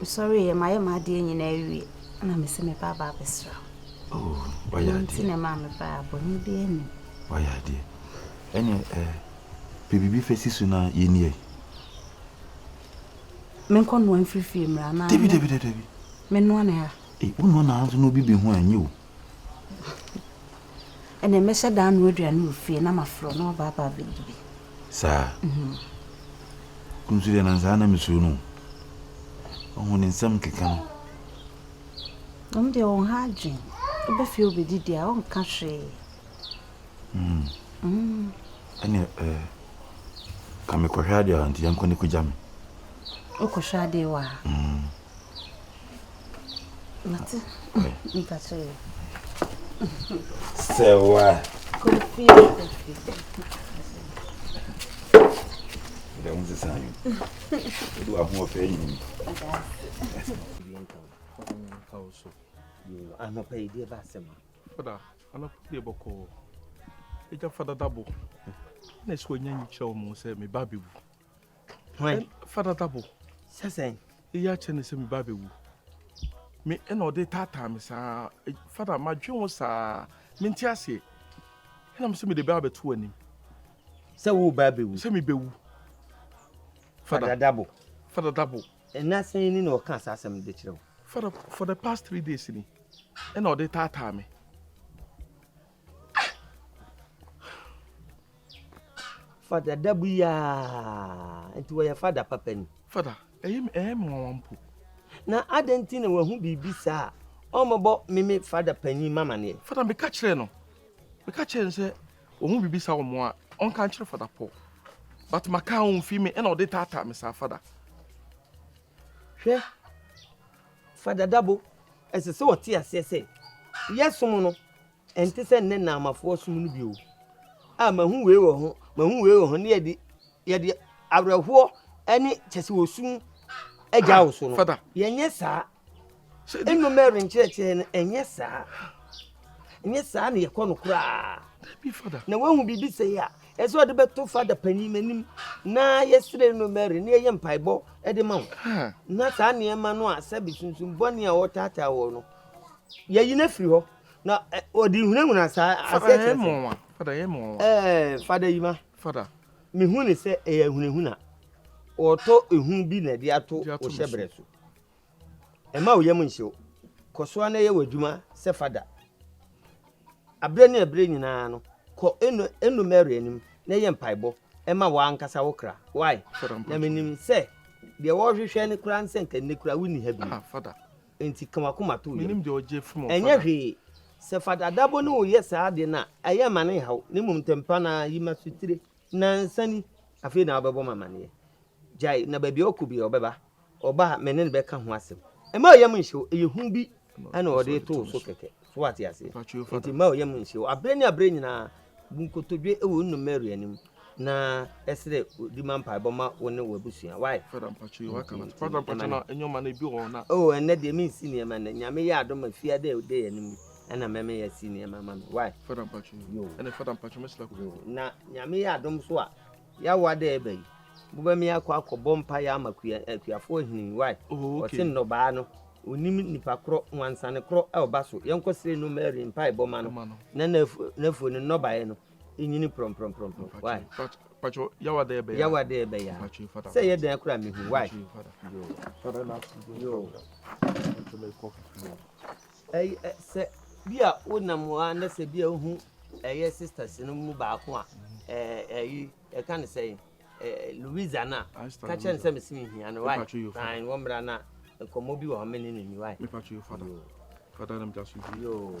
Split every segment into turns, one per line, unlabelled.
Mesɔre yɛ mayɛ m'adeɛ nyinaa awie na mese meba aba abɛsra wo. Oh,
wayɛ adeɛ. Nti na maa meba a
bɔne bi anim. Wayɛ adeɛ.
Ɛne eh, pɛ biribi fɛ si so na yɛni ɛ.
Menkɔ noa mfiri fie mmra na. Dabi dabi dabi.
Menoa ne
ha. Eh, wo noa na ha nso na
obi bɛhu a ɛnyɛ o.
Ɛnneɛ mɛhyɛ da anoa aduane wɔ fie na mafrɛ na waba aba abɛdi bi. Saa?
Wo nso deɛ na saa na mesuro no o. Ɔho ne nsɛm keka no.
Ɔno deɛ wɔn ha adwen. Ɔbɛ fie ɔbɛdi deɛ a ɔnka hwee.
Ɛnneɛ ɛɛ ka mekɔhwɛ adeɛ a nti yɛnkɔ ne kɔgya me.
Wokɔhwɛ adeɛ wɔ ha?
Sewa. Kofi. Dɛm sisa yi. Do ahoɔfɛ yi.
Anɔpa yi deɛ ba asɛm a. Fada,
anɔpa deɛ bɔkɔ ɛgya fada dabo. Na ɛsɛ wɔnya nyi kyerɛ wɔn sɛ me ba bɛwu. Hwan? Fada Tabo. Sɛ
sɛn? Eyi akyɛ ne
sɛ me ba bɛwu. Me ɛna ɔde taataa me saa. E, Fada, madwe wo saa. Mente aseɛ. Ɛna me sɛ mede bɛa bɛto anim. Sɛ wo
ba bɛwu? Sɛ me bɛwu. Fada Dabo. Fada Dabo.
Ɛna sɛn ni na
ɔka saa asɛm de kyerɛ wo? Fada, for the past
three days ni. Ɛna ɔde taataa me.
Fada da bu yi aa nti wɔyɛ fada papa ni. Fada, ɛyɛ mi
ɛyɛ mi nwanwa mpo. Na adɛn
nti na wahu biribi saa a ɔmmɛbɔ meme fada panyin ma amaneɛ? Fada, meka kyerɛɛ no.
Meka kyerɛɛ no sɛ wahu biribi saa wɔ mo a ɔnka nkyerɛ fada Paul. But maka a ɔmfii me ɛna ɔde taataa me saa fada. Hwɛ,
fa dadabo. Ɛsɛ sɛ wɔte aseɛ sɛ, yɛsom no, ɛnte sɛ nnɛ Naamafoɔ som no bio. A mahu wei wɔ ho, mahu wei wɔ ho, ne yɛde yɛde awerɛhoɔ ne kyɛ sɛ wɔsu agya wo so no. Yɛnyɛ
saa.
Eno Mary nkyerɛkyerɛ no ɛnyɛ saa. Ɛnyɛ saa na yɛkɔ no koraa. Na
woahu biribi sɛi
a, ɛsɛ ɔde bɛto fada panin anim na yɛsrɛ Eno Mary na yɛyɛ mpaebɔ de ma wo. Na saa nneɛma no a sɛbe sunsum bɔne a wɔtaataa wɔ no, yɛyi no afiri hɔ. Na ɔde hunahuna saa aseɛ kyerɛ sɛ. Fada
yɛ mmoa. Ɛɛ fada yi ma.
Fada. Mehu
ne sɛ
ɛyɛ ahunahuna. Wɔtɔ ehu bi na ɛde ato wo hyɛbrɛ so. Mma wo yam nhyɛ wo. Kɔ so ara na yɛ w'adwuma sɛ fada. Bere ne bere nyinaa no, kɔ Eno Mary anim na yɛ mpaebɔ ma w'ankasa wo kra. Why? Na minim sɛ deɛ wɔrehwehwɛ no koraa ne sɛ anka nnɛ koraa wunni ha bio. Enti
ka w'akoma
to wo yam. Ɛnyɛ
hwee.
Sɛ Fada Adabo ne wo yɛ saa ade no a, ɛyɛ mma no nhaw, na mmom ntɛmpa no ara yi m'asotire. Nnansa ni, afei na wobɛbɔ me amanneɛ. Gyae, na baabiara ɔkɔ biara ɔbɛba. Ɔba a, me ne no bɛka ho asɛm. Mma wo yam nhye wo, ɛyɛ hu bi na ɔde reto wo so kɛkɛ. So woate aseɛ? Enti mma wo yam nhye wo. Aberɛ ne aberɛ nyinaa, bu nkotodwe wɔ wo nunu Mary anim, na srɛ ɔdi ma mpaebɔ ma wo ne w'abusua.
Wai? Oh, ɛnnɛ deɛ mensi
nneɛma nnɛ. Nyame yɛ adom a, fiada a ɛda yɛn anim yi na mɛmɛ yɛasi nneɛma ama me. Wai? Yoo.
Na Nyame yɛ
adom nso a, Yawoa dɛ eba yi, bobɛ me akɔ akɔ bɔ mpaeɛ ama kua akuafoɔ hene wai ɔse nnɔbaa no onim nipa korɔ nwansane korɔ ɔba so yɛnkɔ srɛ no Mary mpae bɔ ma no na nafuo no nnɔbaeɛ no nyini prɔmprɔmprɔmprɔm
wai Yawoa dɛ eba yi aa
sɛ ɛyɛ dɛn koraa mehu wai
yoo
yoo. Ɛyɛ sɛ bi a wo nam hɔ a na sɛ bi a wo hu ɛyɛ sisters no mu baako a ɛɛ ɛyi ɛka ne sɛ ɛɛ Louisa na ka kyɛn sɛ mesi mi hia no wa fine wɔn mìíràn na nkɔmɔ bi wɔ hɔ mi ni ni ni wa. Mepatro yo fada
fada nam jasu bi. Yoo.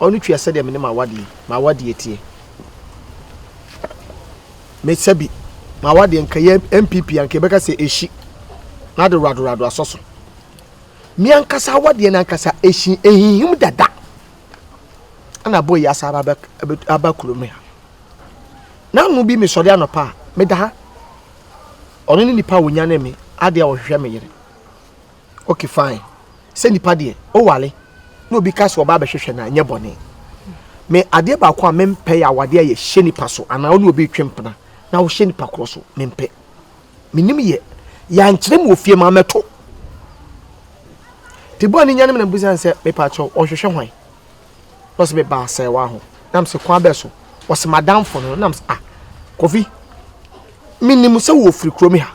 Ɔno tua
sɛdeɛ me ne m'awadeɛ, m'awadeɛ teɛ. Me sɛbi, m'awadeɛ nka yɛ MPP anka yɛbɛka sɛ ehyi na de radorado asɔ so. Me ankasa awadeɛ no ankasa ehyi ehihim dada. Ɛna abɔ yi asa aba aba kurom ha. Na ano bi mesɔre anɔpa a meda ha. Ɔno ne nipa a ɔnyane me adeɛ a ɔhwehwɛ me yere. Okay fine. Sɛ nipa deɛ, o ware na obi ka sɛ ɔba abɛhwehwɛ no a, nyɛ bɔne. Me adeɛ baako a mempɛ yɛ awadeɛ a yɛhyɛ nipa so anaa ɔne obi retwe mpena na wohyɛ nipa korɔ so. Mempɛ. Menim yɛ. Yɛankyerɛ me wɔ fie ma mɛto. Tibua ne nyanom na mebisa no sɛ, mepa kyɛw, ɔhwehwɛ hwan? na ɔse meba asɛewa ho na mese kwan bɛ so ɔse madamfo no na mese ah kofi menim sɛ wɔ firi kurom ha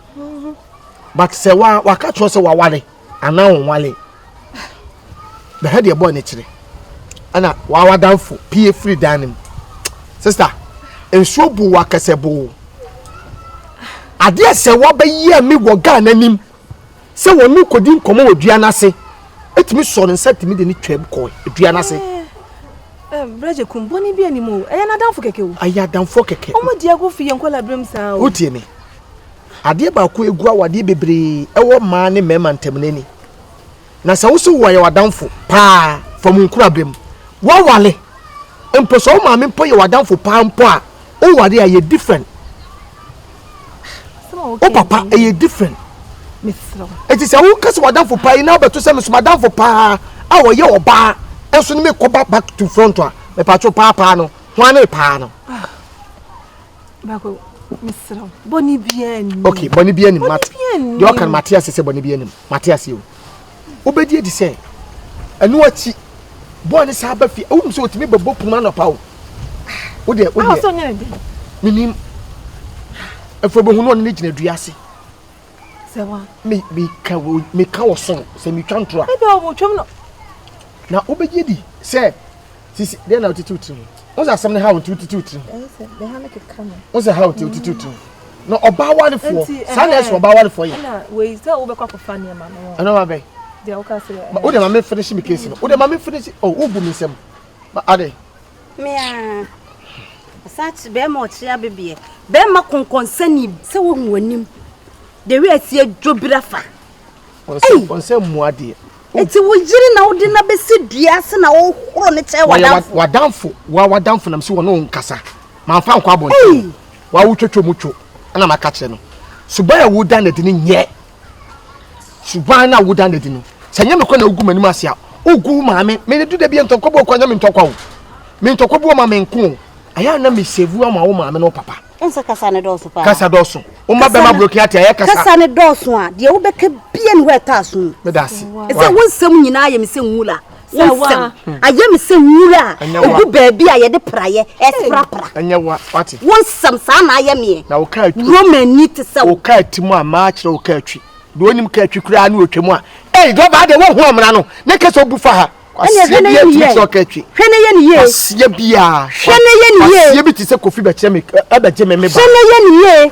but sɛ wa waka kyerɛ sɛ wawale anaa wɔnwale bɛhɛ deɛ bɔɔ ne kyerɛ ɛna wawadamfo pie firi dan no mu sista nsuo bu wakɛsɛ bu adeɛ sɛ wabɛyi a me wɔ ghana nim sɛ wɔne no kɔdi nkɔmmɔ wɔ dua no ase ɛtumi sɔɔ ne nsa tumi de ne twam kɔɔ dua no ase.
Brɛgye kum bɔne bi anim o ɛyɛ n'adamfo kɛkɛ o. Ɛyɛ adamfoɔ kɛkɛ. Wɔn
di ago fi yɛn nkɔla
berɛm saa o. Wotie me.
Adeɛ baako egu awadeɛ bebree ɛwɔ mmaa ne mmarima ntam n'ani. Na sɛ wo so wɔyɛ w'adamfo paa fa mo nkurabere mu, woawale mpo, sɛ wo maame mpo yɛ w'adamfo paa mpo a, woware a, ɛyɛ different. Wo papa, ɛyɛ different.
Enti sɛ woka
sɛ w'adamfo paa yi na wobɛto sɛ meso m'adamfo paa a ɔyɛ ɔbaa nso ne mekɔba back to front a, mepatwo paa paa no, hwan ne paa no?
baako mesrɛ bɔne biaa nni ok bɔne biaa nim
mate deɛ ɔka no mate ase sɛ bɔne biaa nim mate ase o wobɛdi adi sɛ ɛno akyi bɔɔ ne saa ba fie wonim sɛ ɔtumi bɛbɔ kunu anɔpa o wodeɛ wodeɛ
menim
ɛfo bɛhu no ɔne ne gyina dua ase Sɛ
wa. Me me ka wo
me ka wɔ soro sɛ me twa ntora. Ebi a ɔmo twam no.
Na
wobɛgye di sɛ sisi deɛ na wotete wo tirim wo sɛ asɛm no ha wo nti wotete wo tirim
wo sɛ ha wo nti wotete wo
tirim na ɔbaa warefoɔ saa na ɛsɛ ɔbaa warefoɔ yɛ
ɛno ma bɛn wode ma me finish me
case no wode ma me finish oh wobu me nsɛm adɛn Me
aa. Ɔsan kye bɛrima ɔkye abebeɛ. Bɛrima kɔnkɔnsani. Sɛ wohu w'anim. De wei atie dwobira fa.
Ɔnsɛ mmu adeɛ. Eti wo yere
na wode na bɛsi dua ase na wohoro ne kyɛ wadamfo. Wadamfo
wa wadamfo nam si wɔne wo nkasa. Mamfa nkɔ abɔnten. Wa wotwatwa mu two ɛna maka kyerɛ no. Suban a woda no adi no nyɛ. suban no a woda no adi no sɛ nyɛ mekɔ na wogu m'anim ase a wogu maame mene du da bi ntɔkwa bi ɔkɔ nyɛ me ntɔkwa o me ntɔkwa bi ɔma me nko o ɛyɛ na mesevu ama wo maame ne wo papa ɛnsɛ kasa ne dɔɔso
paa kasa dɔɔso woma
bɛma brokin ate ayɛ kasa kasa ne dɔɔso a deɛ
wobɛka bia ne hɔ
ɛtɔ
aso mu meda ase ɛsɛ wo nsɛm
nyinaa
yɛ me sɛ nwula sɛ nsɛm ayɛ me sɛ nwura a ɛgu baabi a yɛde praeɛ ɛsprapra ɛnyɛ wa wate
wo nsɛm saa na ayɛ
meɛ na woka atwi romani
te sɛ
woka ati mu a maa
kyerɛ woka atwi deɛ ɔnim ka atwi koraa ne ɔtwa mu a ei dɔbaa deɛ wohu amena no ne kɛ sɛ ɔbu fa ha kwaseɛ bi atumi kyerɛ ɔka atwi hwɛ ne yɛ ne yie
kwaseɛ biaa
hwɛ ne yɛ ne yie
kwaseɛ bi te sɛ kofi bɛkyerɛ
me ɛbɛgye me me ba hwɛ ne yɛ ne yie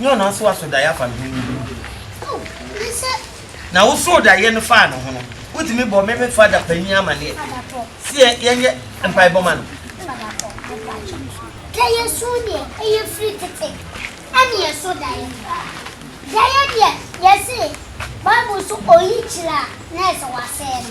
Nyɛ ɔno nso aso daeɛ afa ne ho no mu. Na wosoo daeɛ no faa ne ho no, wotumi bɔ me me fada panin amaneɛ sɛ yɛnyɛ mpaebɔ ma no. Daeɛ
so deɛ ɛyɛ firi tete ɛne ɛso daeɛ. Daeɛ deɛ yɛse Bible so oyi kyerɛ a na ɛsɛ wasɛe no.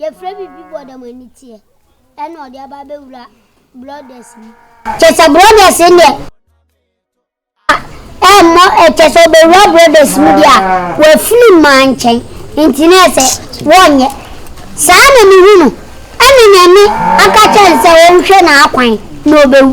Yɛfrɛ biribi bɔ dɛm ani teɛ ɛna ɔde aba abɛwura brɔdɛs mu. Kyɛ sɛ brɔdɛs no deɛ a ɛmmɔ ɛ kyɛ sɛ ɔbɛwura brɔdɛs mu deɛ a wafiri mmaa nkyɛn nti na ɛsɛ wɔnyɛ saa na mehu no ɛna Nyame aka kyerɛ no sɛ ɔnhwɛ n'akwan na ɔbɛwu.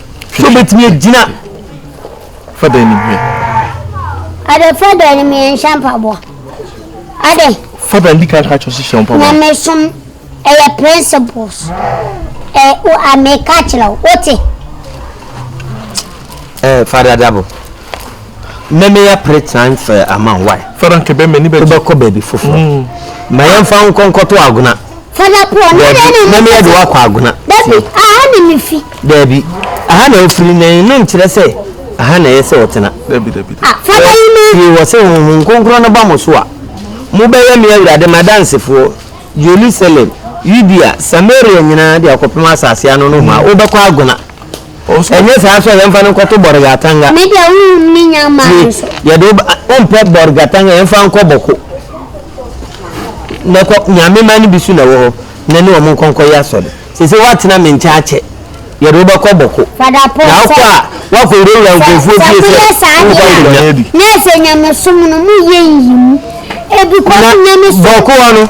So wobɛtumi agyina
fa dan nim hwɛ.
Ade fa dan nim yɛ nhyɛ mpaboa. Ade. Fa dan di kan
ka kyerɛ so hyɛ mpaboa. Nyame som
ɛyɛ principles. Ɛ o ameka kyerɛ wo wote.
Ɛ fada dabo. Mmɛmɛ ya pere time fɛ ama why. Fada nkɛbɛ mɛ ni bɛ.
Wobɛkɔ baabi foforɔ.
Mm. Ma yɛn fa nkɔnkɔto agona.
Mɛmɛ yɛ de wakɔ
agona. Dabi, aha na
mi fi. Dabi, aha
na ofiri na eno nkyerɛ sɛ aha na ɛyɛ sɛ ɔtena. Dabi, dabi, dabi. Fada
yi ma.
Fie wɔ sɛ
huhu nkonkron no ba mo so a, mo bɛyɛ me awurade m'adansefoɔ, Jerusalem, Yudea, Samaria nyinaa de akɔpem asase ano nohoa. Wobɛkɔ agona. Ɛnyɛ saa nso a, yɛmfa no nkɔto Bɔregatanga. Me deɛ wonhunu me
nya maa no so. Yɛde wo ba wompɛ
Bɔregatanga yɛmfa nkɔ Bɔko. Na kɔ Nyame mma no bi so na ɛwɔ hɔ na ne wɔn nkɔ nkɔyɛ asɔre. Sese woatena me nkyɛn akyɛ. Yɛde wo bɛkɔ Bɔko. Fada Paul sɛ. Na wokɔ a
woakɔ
wurawura nkurɔfoɔ fie sɛ. Sɛ moyɛ saa deɛ a na ɛsɛ
nyamesom no moyɛ nyiyimu. Ebi kɔ so nyamesom. Bɔko hɔ no.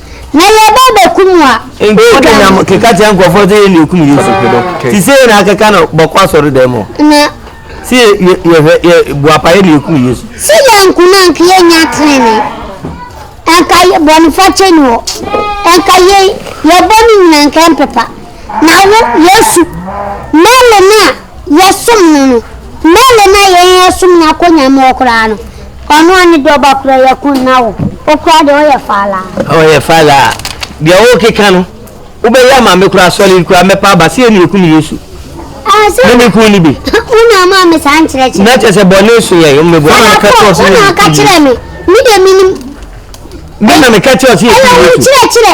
na yɛba abɛku mu a, wodwane. Nkɔ
keka kyerɛ nkurɔfoɔ sɛ yɛn na yɛkum Yesu. Ti sɛ yɛn na akeka no bɔkɔ asɔredɛm hɔ. Na.
Sɛ
yɛhwɛ yɛ boapa yɛn na yɛkum Yesu. Sɛ yɛanku no anka
yɛnnya tenenee. Anka bɔnefakyɛ ni hɔ. Anka yɛn yɛbɔ no nyina anka ɛmpepa. Na wo, Yesu, Mary no a yɛsom no no, Mary no a yɛn yɛsom no akonya mu hɔ koraa no, ɔno a ne dɔba kura yɛ ko nna wo, wo koraa deɛ ɔyɛ falaa. Ɔyɛ falaa. Deɛ wokeka
no, wobɛyɛ ama me koraa, solid koraa, mɛpa aba sɛ yɛ na yɛkum Yesu. Ne ne
kun no bi.
Wo na ama me saa
nkyerɛkyerɛ. Na kyerɛ sɛ bɔne so
yɛ, mmeboa na meka kyerɛ ɔsɛ yɛ. Wo na ɔka kyerɛ me,
me deɛ menim. Me
na meka kyerɛ ɔsɛ yɛ. Ɛyɛ wo nkyerɛkyerɛ.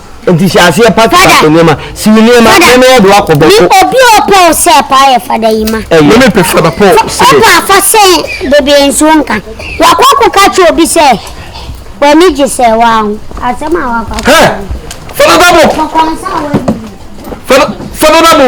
Nti hyɛ aseɛ pack pack nneɛma. Si wo nneɛma na na yɛde wakɔ bɔko. Ni obi a ɔpɛ wo
sɛ paa yɛ fada yi ma. Ɛyɛ. Meme pɛ fada pɔ
sɛ. Ɔpɛ afa sɛ
bebee nsuo nka. Wakɔ akɔ ka kyerɛ obi sɛ w'ani gye sɛ waa ho. Asɛm a wakɔ akɔ. Hɛ! Fada
dabo! Kɔkɔ nsa a wadi. Fada fada dabo.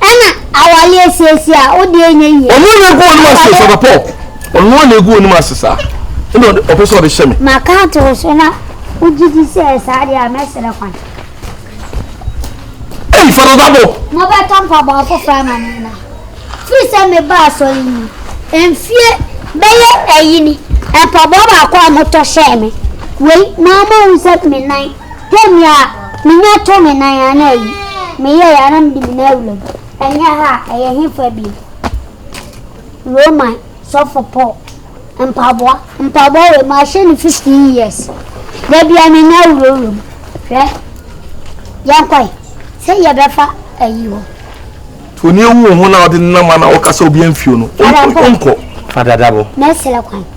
Ɛna awale asiesie a wo deɛ nyɛ yie. Ɔno na egu wɔn ase sɛ
pɔp. Ɔno na egu wɔn ase saa. Ɛna ɔpɛ sɛ ɔde hyɛ me. Ma ka to wo so na
wogye di sɛ saa deɛ a mɛsrɛ kwan.
Ei fada dabo. Mobɛtɔ mpaboa
foforɔ ama me na. Firi sɛ meba asɔre mu mfie bɛyɛ ɛyi ni mpaboa baako a motɔ hyɛɛ me wei na ama hu sɛ me nan. Hwɛ nea minya too me nan a na ayi, meyɛe a na mede me nan awura mu. Ɛnyɛ ha a, ɛyɛ he fa bio? Roman sɔfo Paul mpaboa. Mpaboa wei, mahyɛ no fifteen years. Da bia me nan awurawura mu. Hwɛ, yɛnkɔe sɛ yɛbɛfa ayi hɔ.
Onii wu wo ho na wode nenam a na woka sɛ obi amfio no, wonkɔ. Fa dadabo.
Mɛsrɛ kwan.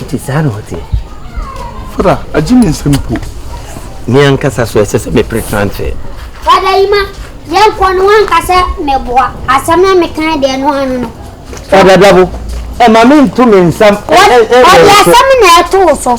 Ɛte saa na ɔteɛ. Fada,
agye me nsɛm
po. Me
ankasa
so ɛsɛ sɛ mepere transfer. Fada yi ma
yɛnkɔ no wanka sɛ meboa asɛm na mekan deɛ no ano no. Fada dabo,
ɛma me nto me nsam. Ɔde asɛm
na ɛtoo so.